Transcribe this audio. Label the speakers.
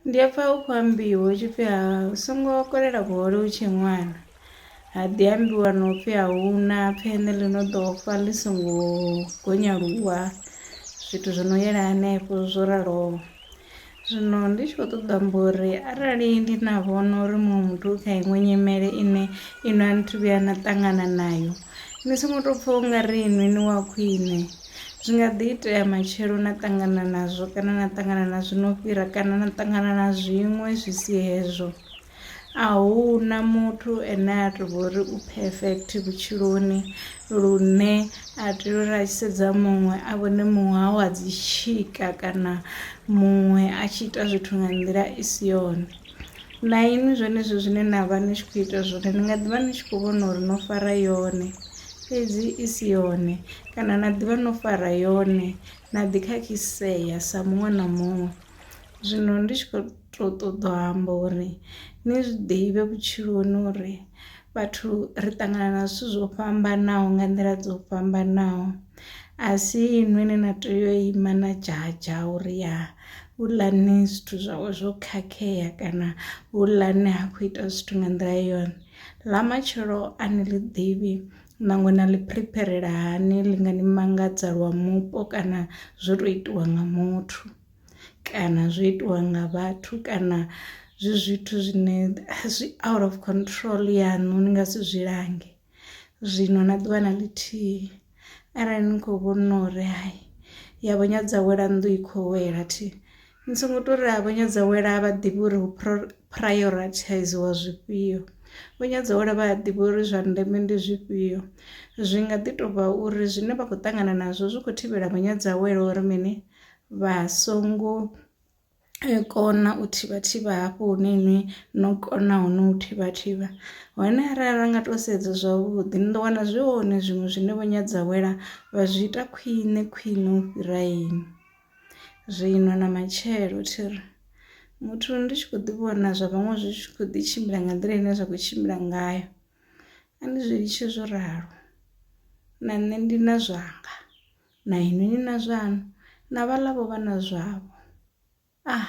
Speaker 1: Ndi a pfa hu khou ambiwa hu tshi pfhi ha u songo kolela vhuhole u tshe ṅwana, ha ḓi ambiwa na u pfhi a hu na pfheṋe ḽi no ḓo fa ḽi songo gonya luvha, zwithu zwi no yela hanefho zwo raloho. Zwino ndi tshi khou ṱoḓa u amba uri arali ndi na vhono uri muṅwe muthu u kha iṅwe nyimele ine inwi a ni thu vhuya na ṱangana nayo ni songo tou pfha u nga ri inwi ni wa khwiṋe. Zwi nga ḓi itea matshelo na ṱangana nazwo kana na ṱangana na zwi no fhira kana na ṱangana na zwiṅwe zwi si hezwo, a hu na muthu ane a tou vha uri u perfect vhutshiloni lune a tea uri a tshi sedza muṅwe a vhone muṅwe a wa dzi tshika kana muṅwe a tshi ita zwithu nga nḓila i si yone. na inwi zwenezwo zwine na vha ni tshi khou ita zwone ni nga ḓi vha ni tshi khou vhona uri no fara yone fhedzi i si yone kana na ḓi vha no fara yone na ḓi khakhisea sa muṅwe na muṅwe. Zwino ndi tshi khou tou ṱoḓa u amba uri ni zwi ḓivhe vhutshiloni uri vhathu ri ṱangana na zwithu zwo fhambanaho nga nḓila dzo fhambanaho, a si inwi ine na tea u ima na dzhadzha uri ya huḽani zwithu zwawe zwo khakhea kana huḽani ha khou ita zwithu nga nḓila yone ḽa matshelo a ni ḽi ḓivhi ṋangwe na ḽi phiripherela hani ḽi nga ni mangadza lwa mupo kana zwo to itiwa nga muthu kana zwo itiwa nga vhathu kana zwi zwithu zwine zwi out of control yaṋu ni nga si zwi lange. zwino na ḓuvha na ḽithihi arali ni kho vhona uri hai ya vho nyadza wela nnḓu i kho wela thi ni songo to ri a vho nyadza wela vha ḓivha uri hu prioritiziwa zwifhio vho nyadza wela vha ḓivha uri zwa ndeme ndi zwifhio zwi nga ḓi to vha uri zwine vha khou ṱangana nazwo zwi kho thivhela vho nyadza wela uri mini vha songo kona u thivha thivha hafho hune nṋe no kona hone u thivha thivha hone arali ra nga to sedza zwavhuḓi ni ḓo wana zwi hone zwiṅwe zwine vho Nyadzawela vha zwi ita khwine khwine u fhira inwi. Zwino na matshelo thi ri muthu ndi tshi kho ḓi vhona zwa vhaṅwe zwi tshi kho ḓi tshimbila nga nḓila ine zwa kho tshimbila ngayo a ndi zwi litshe zwo ralo na nṋe ndi na zwanga. Na inwi ni na zwaṋu, na vhaḽa vho vha na zwavho. Ah!